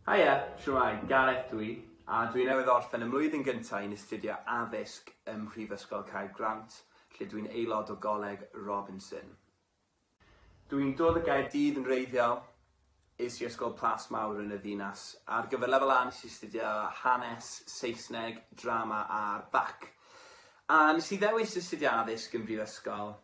Haia, shwmae, Gareth dw i, a dw i newydd orffen y mlwyddyn gynta' i'n astudio addysg ym Mhrifysgol Caergrawnt, lle dw i'n aelod o Goleg Robinson. Dw i'n dod o Gaerdydd yn wreiddiol, es i ysgol Plas Mawr yn y ddinas. Ar gyfer Lefel A nes i astudio Hanes, Saesneg, Drama a'r Bac. A nes i ddewis astudio addysg yn Brifysgol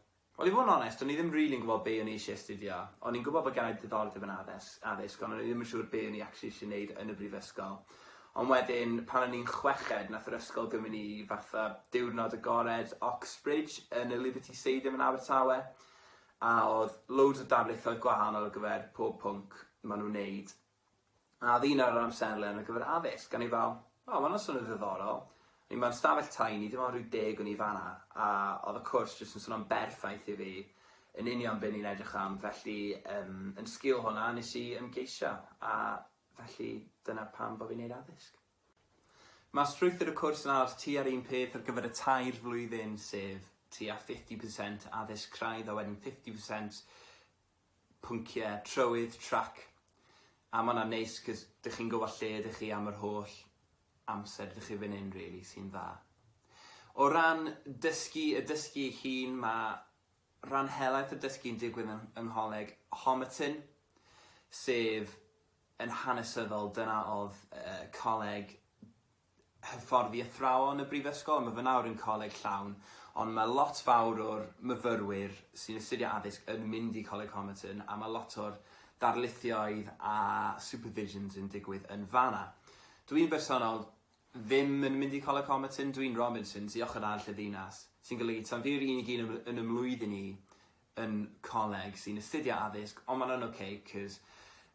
Wel i fod yn onest, o'n i ddim rili'n gwybod be o'n i isie astudio. O'n i'n gwybod bod gennai diddordeb yn addes- addysg, ond o'n i ddim yn siŵr be o'n i actually isie neud yn y brifysgol. Ond wedyn, pan o'n i'n chweched, nath yr ysgol gymryd ni i fatha diwrnod agored Oxbridge yn y Liberty Stadium yn Abertawe, a o'dd loads o darlithoedd gwahanol ar gyfer pob pwnc ma' nhw'n neud, A oedd un ar yr amserlen ar gyfer addysg, a o'n i fel, o ma hwnna'n swnio'n ddiddorol, o'n i mewn stafell tai, o'n i ddim ond ryw deg o'n i fan'na, a oedd y cwrs jyst yn swnio'n berffaith i fi, yn union be o'n i'n edrych am, felly yym yn sgil hwnna nes i ymgeisio, a felly dyna pam bo' fi'n neud addysg. Ma' strwythur y cwrs yn aros tua'r un peth ar gyfer y tair flwyddyn, sef tua fifty percent addysg craidd a wedyn fifty percent pynciau trywydd trac a ma' hwnna'n neis 'c'os dych chi'n gwybod lle ydych chi am yr holl amser dych chi fan hyn rili sy'n dda. O ran dysgu y dysgu ei hun ma' rhan helaeth y dysgu'n digwydd yn yng Ngholeg Homerton sef yn hanesyddol dyna oedd yy coleg hyfforddi athrawon y brifysgol, mae fy nawr yn coleg llawn, ond mae lot fawr o'r myfyrwyr sy'n astudio addysg yn mynd i Coleg Homerton a mae lot o'r darlithioedd a supervisions yn digwydd yn fanna. Dw i'n bersonol ddim yn mynd i Coleg Homerton, dw i'n Robinsons i ochr arall y ddinas, sy'n golygu tan fi'r unig un yn fy mlwyddyn i yn coleg sy'n astudio addysg ond ma'n yn ok cos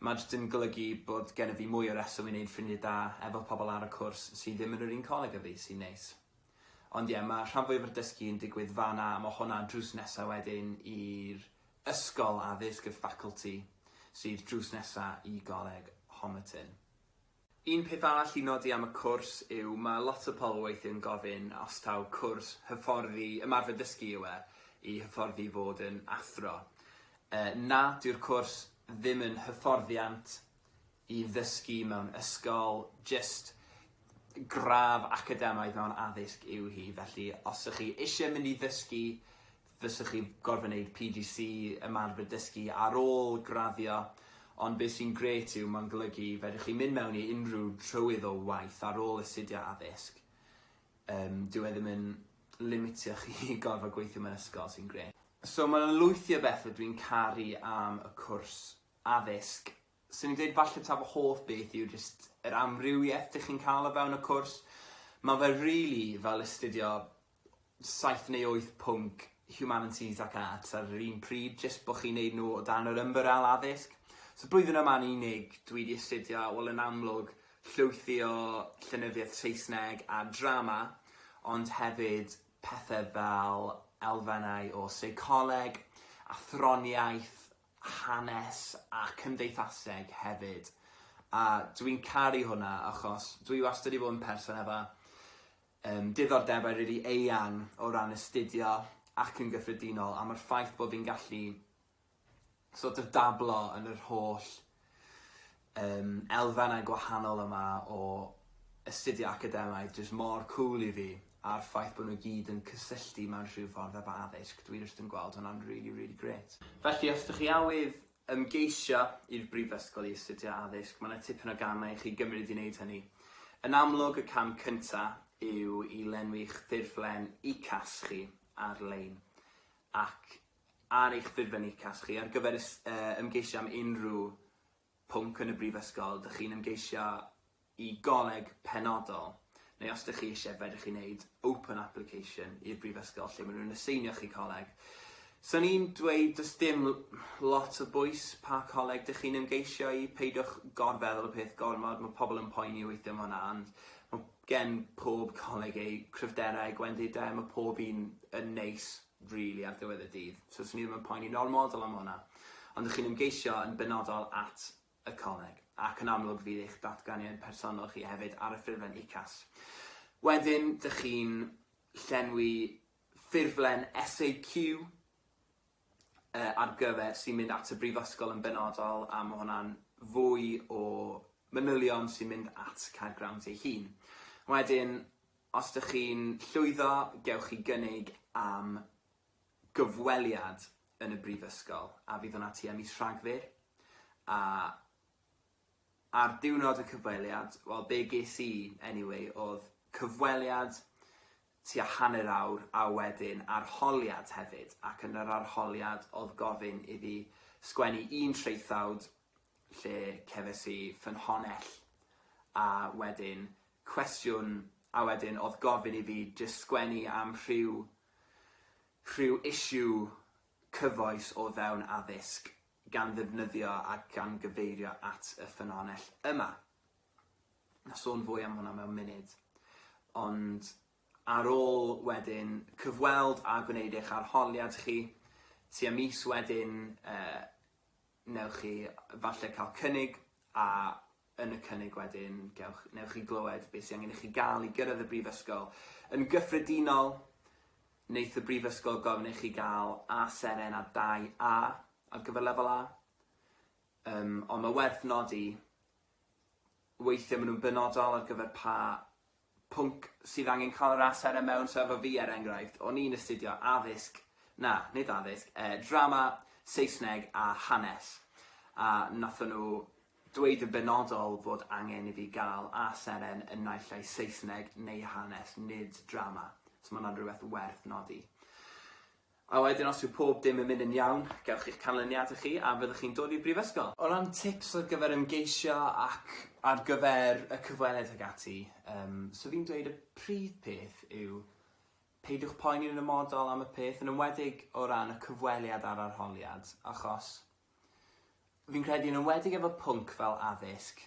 ma' jyst yn golygu bod gennyf fi mwy o reswm i neud ffrindie da efo pobl ar y cwrs sy ddim yn yr un coleg a fi, sy'n neis. Ond ie, ma' rhan fwyaf o'r dysgu yn digwydd fan'na a ma' hwnna drws nesa wedyn i'r ysgol addysg, y faculty, sydd drws nesa i goleg Homerton. Un peth arall i nodi am y cwrs yw mae lot o pobl weithiau'n gofyn os taw cwrs hyfforddi ymarfer dysgu yw e i hyfforddi i fod yn athro. Yy na, dyw'r cwrs ddim yn hyfforddiant i ddysgu mewn ysgol, jyst gradd academaidd mewn addysg yw hi, felly os ych chi eisiau mynd i ddysgu Fysech chi gorfod neud PGC, ymarfer dysgu, ar ôl graddio, ond be sy'n grêt yw mae'n golygu fedrwch chi mynd mewn i unrhyw trywydd o waith ar ôl astudio addysg. Yym, dyw e ddim yn limitio chi i gorfod gweithio mewn ysgol, sy'n grêt. So mae 'na lwythi o bethe dwi'n caru am y cwrs addysg. Swn i'n deud falle ta fy hoff beth yw jyst yr amrywieth dych chi'n cael o fewn y cwrs. Ma' fe rili fel astudio saith neu wyth pwnc Humanities ac Arts ar yr un pryd, jyst bod chi'n neud nhw o dan yr ymbarel addysg. So blwyddyn yma yn unig, dwi 'di astudio, wel yn amlwg, llwyth o llenyddiaeth Saesneg a drama, ond hefyd pethe fel elfennau o seicoleg, athroniaeth, hanes a cymdeithaseg hefyd, a dwi'n caru hwnna achos dwi wastad 'di bod yn person efo Yym, diddordebau rili eang o ran astudio ac yn gyffredinol am yr ffaith bod fi'n gallu sort of dablo yn yr holl yym elfennau gwahanol yma o astudio academaidd jyst mor cŵl i fi a'r ffaith bod nhw gyd yn cysylltu mewn rhyw ffordd efo addysg dwi jyst yn gweld hwnna'n rili rili grêt. Felly os dych chi awydd Ymgeisio i'r Brifysgol i astudio Addysg, mae 'na tipyn o gamau i chi gymryd i wneud hynny. Yn amlwg, y cam cyntaf yw i lenwi'ch ffurflen UCAS chi ar-lein, ac ar eich ffurflen UCAS chi, ar gyfer ymgeisio am unrhyw pwnc yn y Brifysgol, dych chi'n ymgeisio i goleg penodol, neu os dych chi eisiau fedrwch chi wneud open application i'r brifysgol lle maen nhw'n aseinio chi coleg. Swn i'n dweud does dim lot o bwys pa coleg dych chi'n ymgeisio i, peidiwch gorfeddwl y peth gormod, mae pobl yn poeni weithiau am hwnna ond mae gen pob coleg eu cryfderau a'u gwendidau, mae pob un yn neis rili ar ddiwedd y dydd, so swn i ddim yn poeni'n ormodol am hwnna. Ond dych chi'n ymgeisio yn benodol at y coleg, ac yn amlwg fydd eich datganiad personol chi hefyd ar y ffurflen UCAS. Wedyn, dych chi'n llenwi ffurflen SAQ yy ar gyfer sy'n mynd at y brifysgol yn benodol, a ma' hwnna'n fwy o manylion sy'n mynd at Caergrawnt ei hun. Wedyn, os dych chi'n llwyddo, gewch chi gynnig am gyfweliad yn y Brifysgol a fydd hwnna tua mis Rhagfyr a ar diwrnod y cyfweliad, wel be ges i anyway oedd cyfweliad tua hanner awr a wedyn arholiad hefyd ac yn yr arholiad oedd gofyn i fi sgwennu un traethawd lle cefais i ffynhonnell a wedyn cwestiwn a wedyn oedd gofyn i fi jyst sgwennu am rhyw rhyw issue cyfoes o fewn addysg gan ddefnyddio a gan gyfeirio at y ffynonell yma. Na sôn fwy am hwnna mewn munud. Ond ar ôl wedyn cyfweld a gwneud eich arholiad chi, tua mis wedyn, uh, Wnewch chi falle cael cynnig a yn y cynnig wedyn gewch... wnewch chi glywed beth sydd angen i chi gael i gyrraedd y brifysgol. Yn gyffredinol, wneith y brifysgol gofyn i chi gael A seren a dau A ar gyfer lefel A. Yym, ond mae werth nodi, weithiau maen nhw'n benodol ar gyfer pa pwnc sydd angen cael yr as arno mewn sefyllfa fi er enghraifft, o'n i'n astudio addysg, na, nid addysg, eh, drama, Saesneg a hanes, a nathon nhw dweud yn benodol fod angen i fi gael A seren yn naill ai Saesneg neu hanes, nid drama, so ma' hwnna'n rhywbeth werth nodi. A wedyn os yw pob dim yn mynd yn iawn, gewch chi'ch canlyniadau chi a fyddwch chi'n dod i'r brifysgol. O ran tips ar gyfer ymgeisio ac ar gyfer y cyfweliad ag ati, yym, 'swn i'n dweud y prif peth yw peidiwch poeni yn amodol am y peth, yn enwedig o ran y cyfweliad a'r arholiad, achos fi'n credu yn enwedig efo pwnc fel addysg,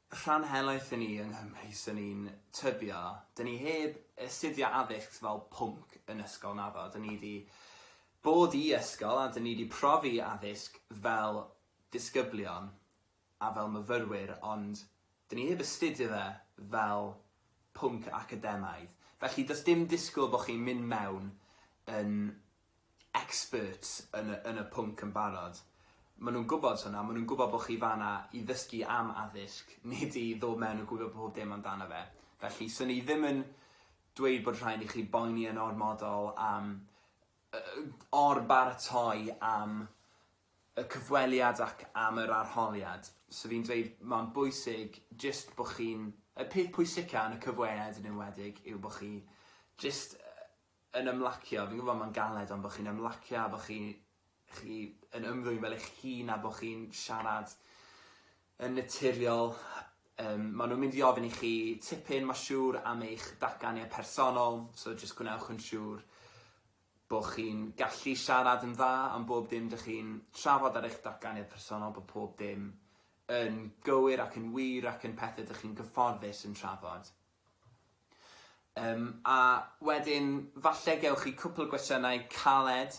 Rhan helaeth i ni yng Nghymru swn i'n tybio. Dyn ni heb astudio addysg fel pwnc yn ysgol naddo. Dyn ni 'di bod i ysgol a dyn ni 'di profi addysg fel disgyblion a fel myfyrwyr ond dyn ni heb astudio fe fel pwnc academaidd. Felly does dim disgwyl bod chi'n mynd mewn yn expert yn y yn y pwnc yn barod. Ma' nhw'n gwbod hwnna, ma' nhw'n gwbod bo' chi fan'na i ddysgu am addysg, nid i ddod mewn a gwybod pob dim amdano fe. Felly, 'swn i ddim yn dweud bod rhaid i chi boeni yn ormodol am yy or-baratoi am y cyfweliad ac am yr arholiad. So fi'n dweud ma'n bwysig jyst bo' chi'n... Y peth pwysica yn y cyfweliad yn enwedig yw bo' chi jyst yy yn ymlacio, fi'n gwbo ma'n galed ond bo chi'n ymlacio a bo chi chi yn ymddwyn fel eich hun a bo chi'n siarad yn naturiol yym ma' nw'n mynd i ofyn i chi tipyn ma' siŵr am eich datganiad personol so jyst gwnewch yn siŵr bo chi'n gallu siarad yn dda am bob dim dych chi'n trafod ar eich datganiad personol bo pob dim yn gywir ac yn wir ac yn pethe dych chi'n gyfforddus yn trafod. Yym, a wedyn falle gewch chi cwpl gwestiynau caled,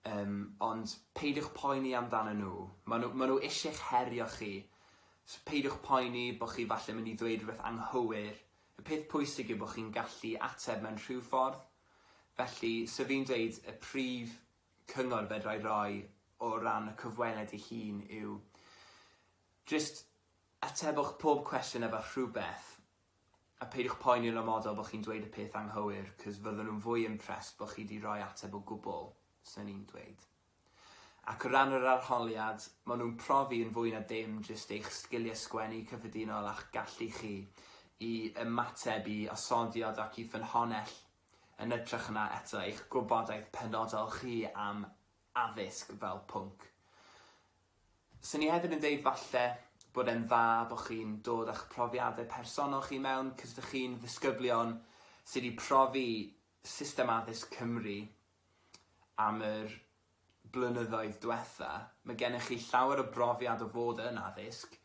yym, ond peidiwch poeni amdanyn nhw, maen nhw, maen nhw isie'ch herio chi, so peidiwch poeni bod chi falle mynd i ddweud rhywbeth anghywir, y peth pwysig yw bod chi'n gallu ateb mewn rhyw ffordd, felly, so fi'n dweud y prif cyngor fedra i roi o ran y cyfweliad ei hun yw jyst Atebwch pob cwestiwn efo rhywbeth a peidiwch poeni yn amodol bo chi'n dweud y peth anghywir cos fydden nhw'n fwy impressed bo chi 'di roi ateb o gwbl, swn i'n dweud. Ac o ran yr arholiad, ma nhw'n profi yn fwy na dim jyst eich sgiliau sgwennu cyffredinol a'ch gallu chi i ymateb i osodiad ac i ffynhonnell yn ytrach na eto eich gwybodaeth penodol chi am addysg fel pwnc. Swn i hefyd yn deud falle bod e'n dda bod chi'n dod â'ch profiadau personol chi mewn, cos dych chi'n ddisgyblion sydd wedi profi system addysg Cymru am yr blynyddoedd diwetha', mae gennych chi llawer o brofiad o fod yn addysg.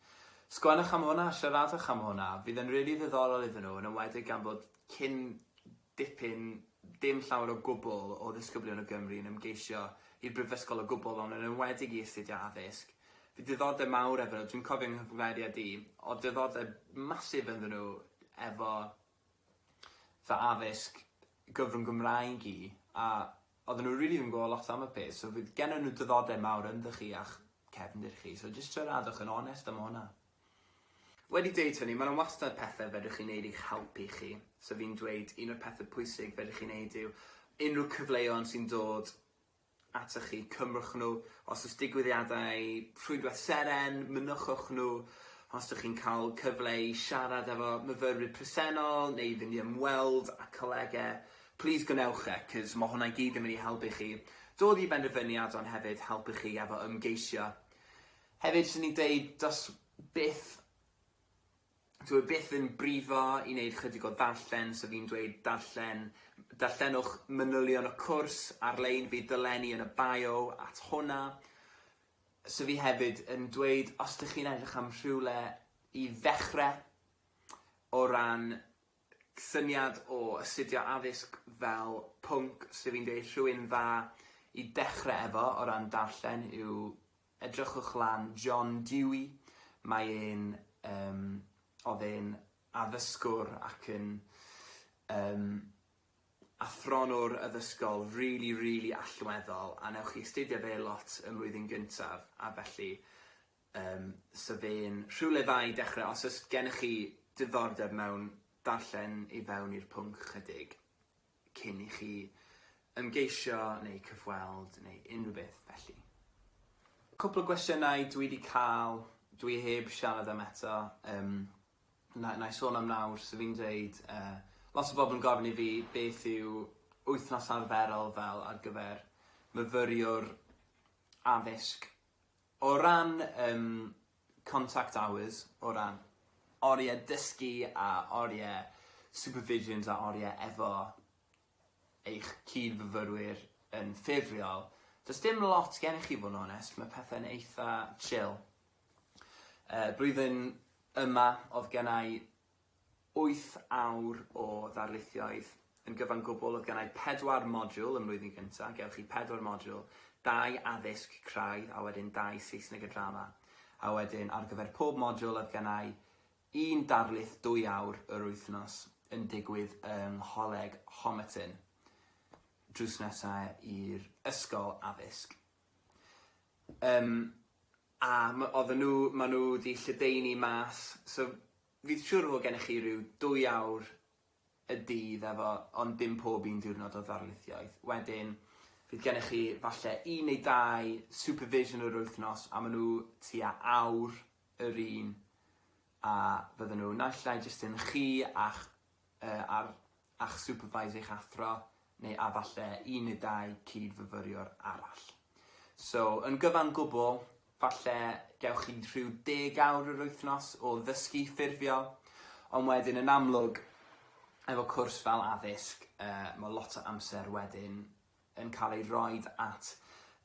Sgwennwch am hwnna, siaradwch am hwnna, fydd yn rili ddiddorol iddyn nhw, yn enwedig gan bod cyn dipyn, dim llawer o gwbl, o ddisgyblion o Gymru yn ymgeisio i'r brifysgol o gwbl ond yn enwedig i astudio addysg. Fy diddordeb mawr efo nhw, dwi'n cofio yng nghyfweliad i, o'dd diddordeb massive ynddyn nhw efo fy addysg gyfrwng Gymraeg i a o'dden nhw rili ddim yn gwbo lot am y peth so fydd gennon nhw diddordeb mawr ynddo chi a'ch cefndir chi so jyst siaradwch yn onest am honna. Wedi dweud hynny, mae 'na wastad pethe fedrwch chi neud i'ch helpu chi. So fi'n dweud un o'r pethe pwysig fedrwch chi neud yw unrhyw cyfleon sy'n dod atoch chi, cymrwch nhw. Os o's digwyddiadau Rhwydwaith Seren, mynychwch nhw. Os dych chi'n cael cyfle i siarad efo myfyrwyr presennol neu i fynd i ymweld â colege, plîs gwnewch e, 'c'os ma' hwnna i gyd yn mynd i helpu chi dod i benderfyniad ond hefyd helpu chi efo ymgeisio. Hefyd 'swn i'n deud does byth dyw e byth yn brifo i neud chydig o ddarllen so fi'n dweud darllen darllenwch manylion y cwrs ar-lein bydd dolenni yn y bio at hwnna. So fi hefyd yn dweud os dych chi'n edrych am rhywle i ddechre o ran syniad o astudio addysg fel pwnc so fi'n deud rhywun dda i dechre efo o ran darllen yw Edrychwch lan John Dewey, mae e'n yym oedd e'n addysgwr ac yn yym athronwr addysgol rili rili allweddol a newch chi astudio fe lot ym mlwyddyn gyntaf a felly yym so fe'n rhywle dda i dechrau os oes gennych chi diddordeb mewn darllen i fewn i'r pwnc ychydig. cyn i chi ymgeisio neu cyfweld neu unrhyw beth felly. Cwpl o gwestiynau dwi wedi cael, dwi heb siarad am eto, um, na, na i sôn am nawr, so fi'n dweud, uh, lot o bobl yn gofyn i fi beth yw wythnos arferol fel ar gyfer myfyriwr addysg. O ran um, contact hours o ran orie dysgu a orie supervisions a orie efo eich cyd-fyfyrwyr yn ffurfiol, does dim lot gennych chi fod yn onest, mae pethau'n eitha chill. Yy blwyddyn yma oedd gennai wyth awr o ddarlithioedd yn gyfan gwbl, oedd gennai pedwar modiwl ym mlwyddyn gynta', gewch chi pedwar modiwl, dau addysg craidd a wedyn dau Saesneg a Drama, a wedyn ar gyfer pob modiwl oedd gennai un darlith dwy awr yr wythnos yn digwydd yng Ngholeg Homerton, drws nesa' i'r ysgol addysg. Yym a m- oedden nhw, ma' nhw 'di lledaenu mas, so fi'n siŵr fod gennych chi ryw dwy awr y dydd efo, ond dim pob un diwrnod o ddarlithioedd, wedyn fydd gennych chi falle un neu dau supervision yr wythnos a ma' nhw tua awr yr un a fydden nhw naill ai jyst yn chi a'ch yy a'r a'ch supervise eich athro, neu a falle un neu dau cyd-fyfyriwr arall. So, yn gyfan gwbl, falle gewch chi rhyw deg awr yr wythnos o ddysgu ffurfiol, ond wedyn yn amlwg, efo cwrs fel addysg, uh, mae lot o amser wedyn yn cael ei roed at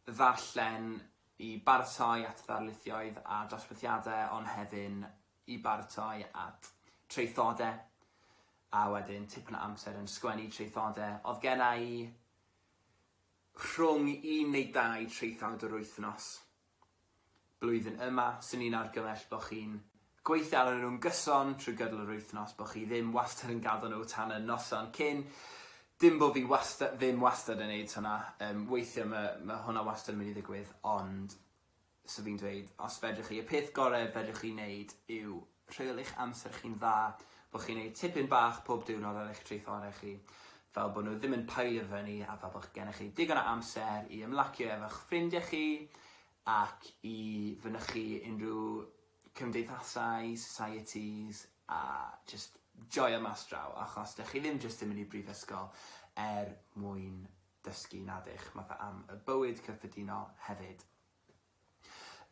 ddarllen i baratoi at ddarlithioedd a dosbarthiadau, ond hefyd i baratoi at traethodau, a wedyn tipyn o amser yn sgwennu traethodau. Oedd genna i rhwng un neu dau traethawd yr wythnos. Blwyddyn yma, swn i'n argymell bod chi'n gweithio arnyn nhw'n gyson trwy gydol yr wythnos, bod chi ddim wastad yn gadw nhw tan y noson cyn. Dim bod fi wastad, ddim wastad yn neud hwnna, um, weithiau mae, mae hwnna wastad yn mynd i ddigwydd, ond So fi'n dweud, os fedrwch chi, y peth gorau fedrwch chi wneud yw rheoli eich amser chi'n dda, bod chi'n gwneud tipyn bach pob diwrnod ar eich traethorau chi, fel bod nhw ddim yn pailio fyny a fel bod gennych chi digon o amser i ymlacio efo'ch ffrindiau chi ac i fynychu unrhyw cymdeithasau, societies a jyst joio mas draw achos dych chi ddim jyst yn mynd i brifysgol er mwyn dysgu nadych, mae fe am y bywyd cyffredinol hefyd.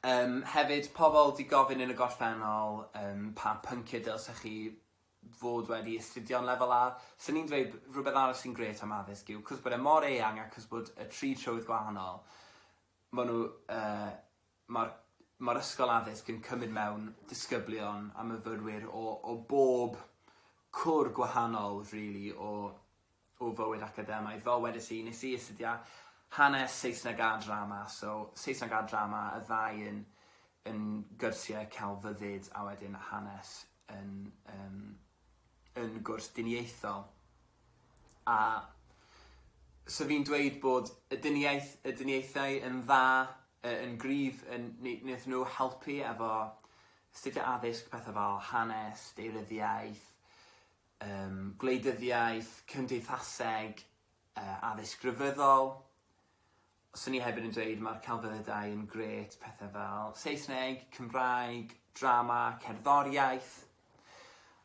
Yym hefyd pobl 'di gofyn yn y gorffennol yym pa pynciau dylsech chi fod wedi astudio yn lefel A, so ni'n dweud rhywbeth arall sy'n grêt am addysg yw 'c'os bod e mor eang a 'c'os bod y tri trywydd gwahanol, ma' nhw yy ma'r ma'r ysgol addysg yn cymryd mewn disgyblion a myfyrwyr o o bob cwr gwahanol rili o o fywyd academaidd. Fel wedes i, nes i astudio hanes, Saesneg a drama, so Saesneg a drama, y ddau yn yn gyrsiau celfyddyd a wedyn hanes yn um, yn gwrs diniaethol. A so fi'n dweud bod y diniaeth, y diniaethau yn dda, yn gryf, yn, wnaeth nhw helpu efo astudio addysg, pethau fel hanes, deiryddiaeth, Ym gwleidyddiaeth, cymdeithaseg, addysg grefyddol. Swn i hefyd yn dweud mae'r celfyddydau yn gret, pethau fel Saesneg, Cymraeg, drama, cerddoriaeth.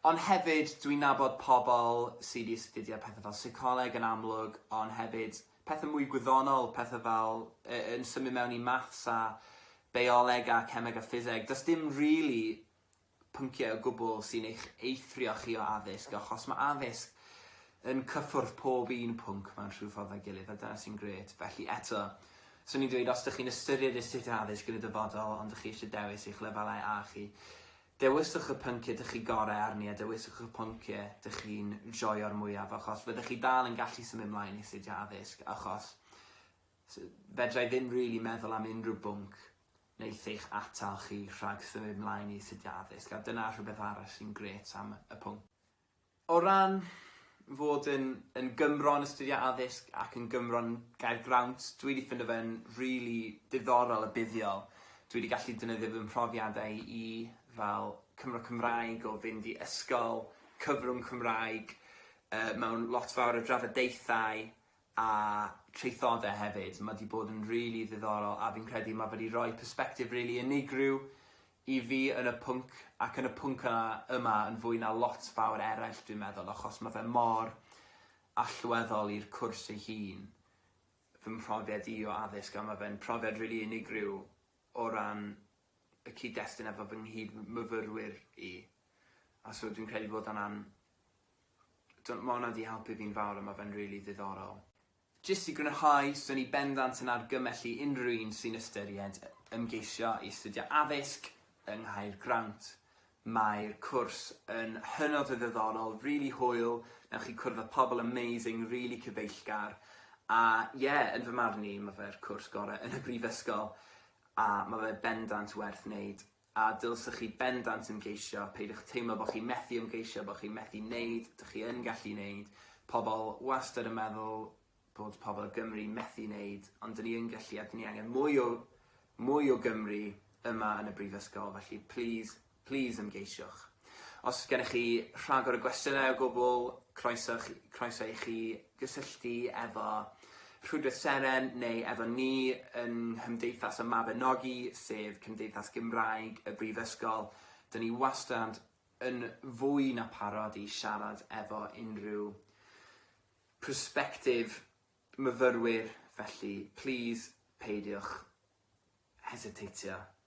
Ond hefyd, dwi'n nabod pobl sydd wedi astudio pethau fel seicoleg yn amlwg, ond hefyd pethau mwy gwyddonol, pethau fel yn symud mewn i maths a beioleg a cemeg a ffiseg. Does dim rili pynciau o gwbl sy'n eich eithrio chi o addysg, achos mae addysg yn cyffwrdd pob un pwnc mewn rhyw ffordd â'i gilydd, a dyna sy'n grêt. Felly, eto, swn i'n dweud, os dych chi'n ystyried astudio addysg yn y dyfodol ond dych chi eisiau dewis eich lefelau A chi, dewiswch y pynciau dych chi gorau arni a dewiswch y pynciau dych chi'n joio'r mwyaf, achos fyddech chi dal yn gallu symud mlaen i astudio addysg, achos fedra i ddim rili meddwl am unrhyw bwnc wneith eich atal chi rhag symud mlaen i astudio addysg, a dyna rhywbeth arall sy'n grêt am y pwnc. O ran fod yn yn Gymro yn astudio addysg ac yn Gymro yn Gaergrawnt, dwi 'di ffindo fe'n rili diddorol a buddiol. Dwi 'di gallu defnyddio fy mhrofiadau i fel Cymro Cymraeg o fynd i ysgol, cyfrwng Cymraeg yy mewn lot fawr o drafodaethau a traethodau hefyd, ma di bod yn rili ddiddorol a fi'n credu ma fe di roi persbectif rili unigryw i fi yn y pwnc ac yn y pwnc yna yma yn fwy na lot fawr eraill dwi'n meddwl achos ma fe mor allweddol i'r cwrs ei hun, fy mhrofiad i o addysg a ma fe'n profiad rili unigryw o ran y cyd-destun efo fy nghyd-myfyrwyr i a so dwi'n credu bod hwnna'n Dw- ma' hwnna 'di helpu fi'n fawr a ma' fe'n rili ddiddorol. Jyst i grynhau, swn i bendant yn argymell i unrhyw un sy'n ystyried ymgeisio i astudio addysg yng Nghaergrawnt. Mae'r cwrs yn hynod o ddiddorol, rili hwyl, newch chi cwrdd â pobl amazing, rili cyfeillgar, a ie, yn fy marn i, ma' fe'r cwrs gore' yn y brifysgol, a ma' fe bendant werth neud. A dylsech chi bendant ymgeisio, peidiwch teimlo bod chi methu ymgeisio, bod chi methu neud, dych chi yn gallu neud, pobl wastad yn meddwl bod pobl o Gymru methu neud, ond dyn ni yn gallu a dyn ni angen mwy o mwy o Gymru yma yn y brifysgol, felly plîs, plîs ymgeisiwch. Os gennych chi rhagor o gwestiynau o gwbl, croeso chi, croeso i chi gysylltu efo Rhwydwaith Seren neu efo ni yng Nghymdeithas y Mabinogi, sef Cymdeithas Gymraeg y Brifysgol. Dyn ni wastad yn fwy na parod i siarad efo unrhyw prospective myfyrwyr, felly plîs peidiwch hesiteitio